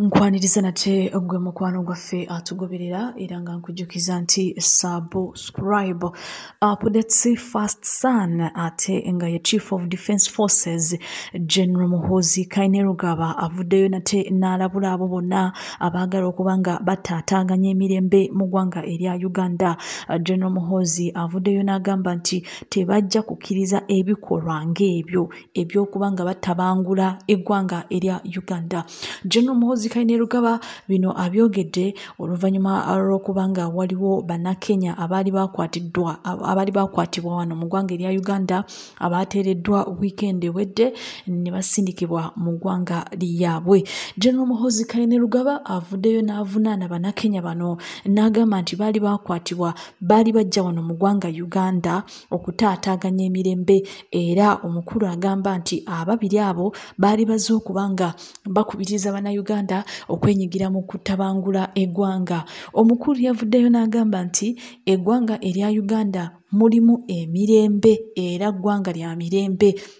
nkwaniriza nate gwe mukwano gwaffe atugoberera era nga nkujjukiza nti subscribe updates fast son ate nga ye chief of defence forces general muhoozi kainerugaba avuddeyo nate n'alabula abo bonna abaagala okuba nga bataataaganya emirembe mu ggwanga erya uganda general muhoozi avuddeyo n'agamba nti tebajja kukkiriza ebikolwa ng'ebyo ebyokuba nga batabangula eggwanga erya uganda general muhozi kainerugaba bino abyogedde oluvannyuma lw'okuba nga waliwo bannakenya abaali bakwatiddwa abaali bakwatibwa wano mu ggwanga erya uganda abaateereddwa wiikendi ewedde ne basindikibwa mu ggwanga lyabwe general muhozi kainerugaba avuddeyo n'avunaana bannakenya bano n'agamba nti baali bakwatibwa baali bajja wano mu ggwanga uganda okutaataaganya emirembe era omukulu agamba nti ababiri abo baali bazze okuba nga bakubiriza bannayuganda okwenyigira mu kutabangula eggwanga omukulu yavuddeyo n'agamba nti eggwanga erya uganda mulimu emirembe era ggwanga lya mirembe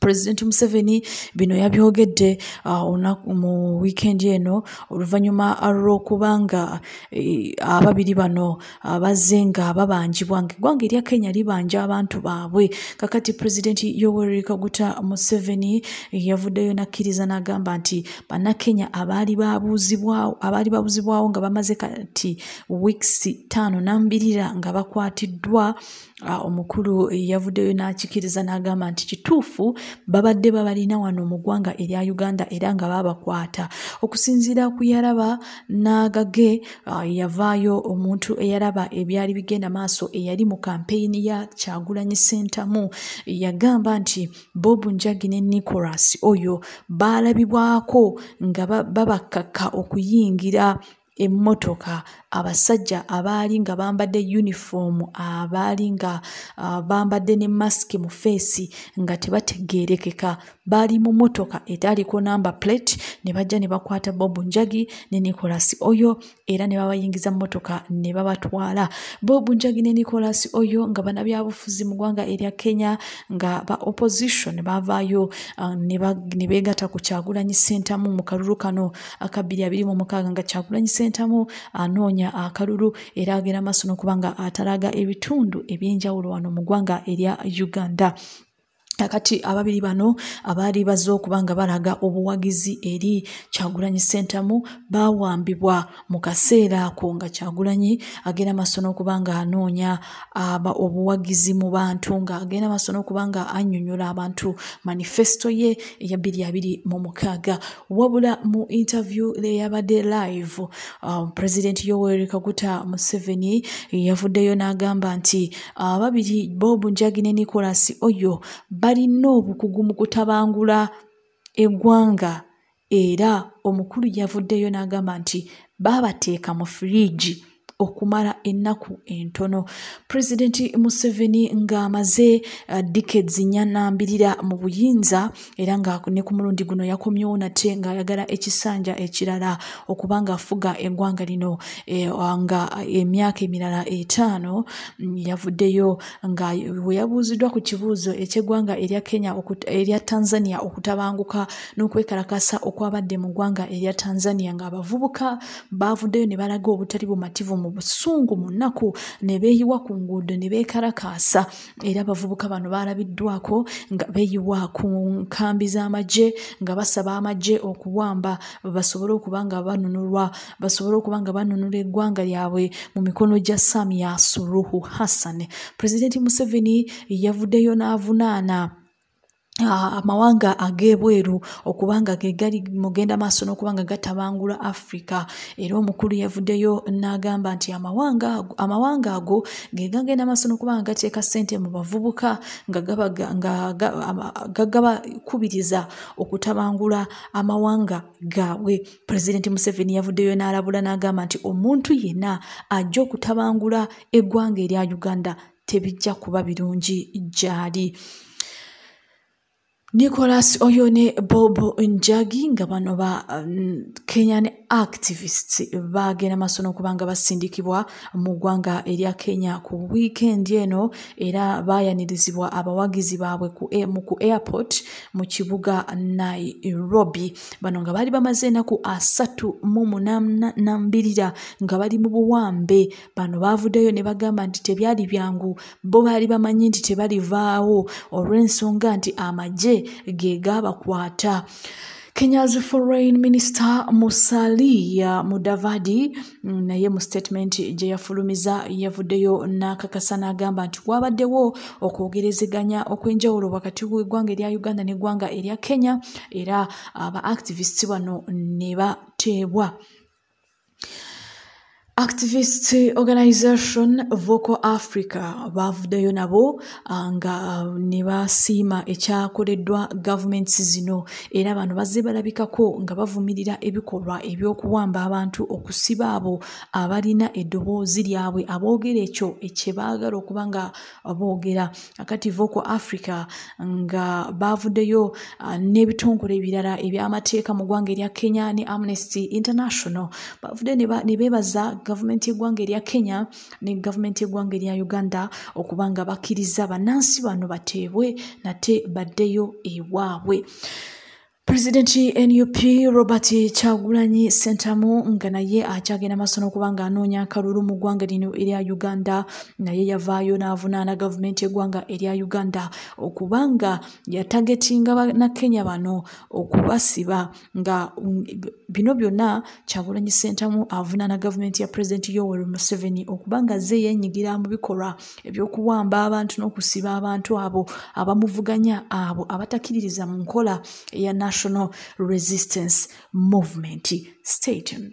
pulezidenti museveni bino yabyogedde uh, olunaku mu wiikendi eno oluvannyuma lw'okuba nga eh, ababiri bano uh, bazze nga babanjibwa nga eggwanga erya kenya libanja abantu baabwe kakati pulezidenti yoweri kaguta museveni eh, yavuddeyo nakkiriza n'agamba nti bannakenya abaali babuuzibwawo abaali babuuzibwawo nga bamaze kati wiikisi ttaano nambirira nga bakwatiddwa Ah, omukulu yavuddeyo n'akikiriza n'agamba nti kituufu babadde babalina wano mu ggwanga erya uganda era nga babakwata okusinziira ku yaraba n'agage ah, yavaayo omuntu eyaraba ebyali bigenda maaso eyali mu kampeyini ya kyagulanyi sentamu yagamba nti bob njagi ne nicolas oyo baalabibwako nga babakkakka okuyingira emmotoka abasajja abaali nga bambadde yunifoomu abaali nga uh, bambadde ne masiki mu feesi nga tebategeerekeka baali mu mmotoka etaaliko namba plate ne bajja ne bakwata bob njagi ne nicolas oyo era ne babayingiza mmotoka ne babatwala bob njagi ne nicolas oyo nga banabyabufuzi mu ggwanga erya kenya nga ba opposition baavaayo uh, ne beegata ku kyagulanyi sentamu mu kalulu kano akabbiri abiri mu mukaaga nga kyagulanyi sentamu anoonya akalulu era agenda maaso n'okuba nga atalaga ebitundu eby'enjawulo wano mu ggwanga erya uganda kati ababiri bano abaali bazze okuba nga balaga obuwagizi eri kyagulanyi sentamu bawambibwa mu kaseera ako nga kyagulanyi agenda maaso n'okuba nga anoonya obuwagizi mu bantu nga agenda maaso n'okuba nga annyonnyola abantu manifesito ye eya bbiri abiri mu mukaaga wabula mu interview leyabadde live uh, president yoweri kaguta museveni yavuddeyo n'agamba nti ababiri uh, bob njagi ne nicolas oyo balina obukugu mu kutabangula eggwanga era omukulu yavuddeyo n'agamba nti baabateeka mu firiigi okumala ennaku entono pulezidenti museveni ng'amaze uh, dikeds nyanambirira mu buyinza era nga ne ku mulundi guno yakomyewo nate ng'ayagala ekisanja ekirala okuba ng'afuga eggwanga lino e, uh, nga emyaka emirala etaano mm, yavuddeyo nga we yabuuziddwa ku kibuuzo eky'eggwanga erya kenya erya tanzania okutabanguka n'okwekalakasa okwabadde mu ggwanga erya tanzania ng'abavubuka baavuddeyo ne balaga obutali bumativu mu busungu mu nnaku ne beeyiwa ku nguudo ne beekalakaasa era abavubuka bano baalabiddwako nga beeyiwa ku nkambi z'amagye nga basaba amagye okuwamba basobole okuba nga banunulwa basobole okuba nga banunula eggwanga lyabwe mu mikono gya samia suruhu hassan pulezidenti museveni yavuddeyo n'avunaana Ah, amawanga ag'ebweru okuba nga ge gali mugenda maaso n'okuba nga gatabangula afrika era omukulu yavuddeyo n'agamba nti amawanga ago ge gagenda maaso n'okuba nga gateeka ssente mu bavubuka nga gagabakubiriza okutabangula amawanga gaabwe pulezidenti museveni yavuddeyo n'alabula n'agamba nti omuntu yenna ajja okutabangula eggwanga erya uganda tebijja kuba birungi gyali nicolas oyo ne bob njagi nga bano ba mm, kenyan activists bagenda maaso n'okuba nga basindikibwa mu ggwanga erya kenya ku wiikendi eno era baayanirizibwa abawagizi baabwe mu ku airport mu kibuga nairobi bano nga baali bamaze enaku asatu mu munanambirira nga bali mu buwambe bano baavuddeyo ne bagamba nti tebyali byangu bo baali bamanyi nti tebalivaawo olw'ensonga nti amagye ge gaabakwata Kenya's foreign minister Musalia Mudavadi mm, naye mu statement gye yafulumiza yavuddeyo n'akakasa n'agamba nti waabaddewo okwogerezeganya okw'enjawulo wakati w'eggwanga erya Uganda n'eggwanga erya Kenya era aba activists bano ne bateebwa. Activist Organization Vocal Africa baavuddeyo nabo ah, nga ne basiima ekyakoleddwa gavumenti zino era bano bazze balabikako nga bavumirira ebikolwa eby'okuwamba abantu okusiba abo abalina eddoboozi lyabwe aboogera ekyo ekye baagala okuba nga boogera akati vocal africa nga baavuddeyo ah, n'ebitongole ebirala ebyamateeka mu ggwanga erya kenya ne amnesty international baavudde ne beebaza gavumenti y'eggwanga erya kenya ne gavumenti y'eggwanga erya uganda okuba nga bakkiriza bannansi bano bateebwe nate baddeyo ewaabwe pulezidenti nup robert kyagulanyi sentamu nga naye akyagenda maaso n'okuba nga anoonya akalulu mu ggwanga lino erya uganda naye yavaayo n'avunaana gavumenti y'eggwanga erya uganda okuba nga yatagetinga banakenya bano okubasiba nga um, bino byonna kyagulanyi sentamu avunaana gavumenti ya pulezidenti yoweri museveni okuba nga ze yenyigira mu bikolwa ebyokuwamba abantu n'okusiba abantu abo abamuvuganya abo abatakiririza mu nkola eya national resistance movement statened